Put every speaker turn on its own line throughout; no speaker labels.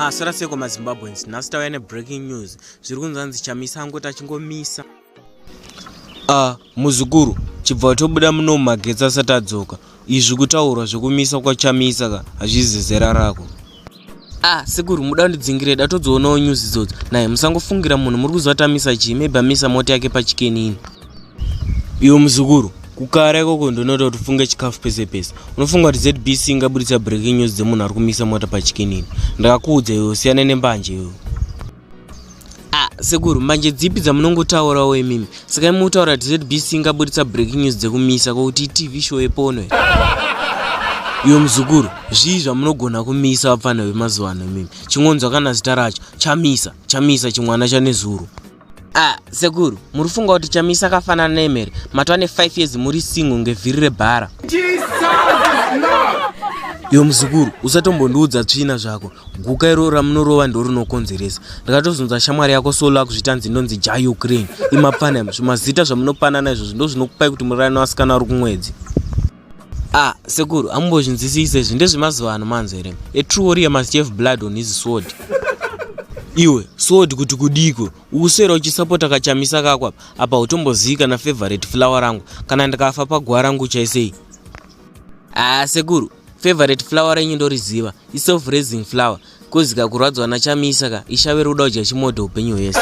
masara seko mazimbabweans nhasi tauya nebreaking news zviri kunzanzi chamisa angoti achingomisa a ah, muzukuru chibva watobuda muno mumagetsi asati adzoka izvi kutaurwa zvekumisa kwachamisa ka hazvizi zera rako ah sekuru muda kundidzingire da todzionawo news idzodzo naye musangofungira munhu muri kuziva tamisa chii maybe amisa mota yake pachikenini iwe muzukuru kukara ikoko ndinoita kuti ufunge chikafu pese pese unofunga kuti zbc ingabuditsa breaking news dzemunhu ari kumisa mota pachikenini ndakakuudza iwe usiyane nembanje iwe Ah, sekuru manje dzipi dzamunongotaurawo imimi saka imi utaura kuti zbc ingabuditsa breaking news dzekumisa kokuti tv show yepono iyo muzukuru zvii zvamunogona kumisa vapfana vemazuva ano imimi chingonzwa kana zita racho chamisa chamisa chimwana chanezuru ah sekuru muri funga kuti chamisa akafanana neemere matwa ne 5 years muri singo ngevhiri rebhara iyo muzukuru usatombondiudza tsvina zvako guka iroro ramunorova ndorinokonzeresa ndakatozunza shamwari yako solo akuzvitanzi ndonzi ja ukraine imapanam zvimazita zvamunopanana izvozvo ndozvinokupai kuti murarani wasikana wari kumwedzi a ah, sekuru amumbozvinzisise izvi ndezvemazuva ano manzi here a true warrior must have blood on his sword iwe sword kuti kudiko ukuswera uchisapota kachamisa kako apa apa utombozii kana favorite flower rangu kana ndikafa paguva rangu uchaisei a ah, sekuru Favorite flower renyu ndoriziva i self raising flower kozi ka kurwadzwa na chamisa ka ishave roda kudya chimodho upenyu hwese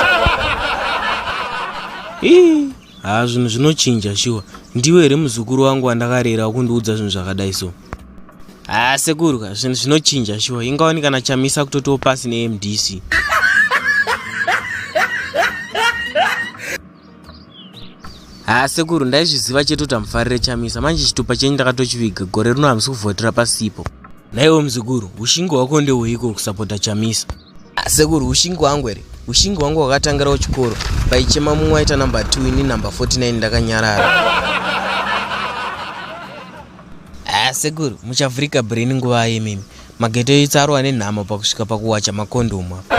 ii haa zvinhu zvinochinja shuwa ndiwe here muzukuru wangu wandakarera wakundiudza zvinhu zvakadai so haa sekuru ka zvinhu zvinochinja shuwa ingawani kana chamisa kutotiwo pasi nemdc haa sekuru ndaizviziva chete kuti hamufarire chamisa manje chitupa chenyu ndakatochiviga gore rino hamusi kuvhotera pasipo naiwo muzukuru ushingi hwako ndehweiko kusapota chamisa ah, sekuru ushingi hwangu here ushingi hwangu hwakatangirawo chikoro paichema mumwe aita number 2 ini number 49 ndakanyarara ah, sekuru muchavhurika brain nguva yemimi Magete itsaro ane nhamo pakusvika pakuwacha makondhomu apa.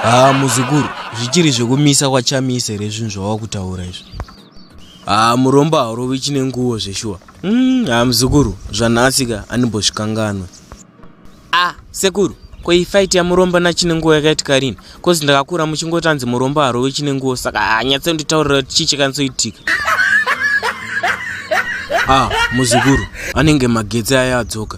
Haa muzukuru, zvichiri zvekumisa kwachamise here zvinhu zvawava kutaura izvi? Haa murombo haurovi chine nguvo zveshuwa. Mm, haa muzukuru, zvanhasika andimbozvikanganwe. Ah, sekuru, ko iyi fight yamurombo nachine nguvo yakaitika rini? Kozi ndakakura muchingoti anzi murombo harovi chine nguvo saka hanyatse nditaurira kuti chii chakanisoitika. Ah, muzukuru, anenge magetsi aya adzoka.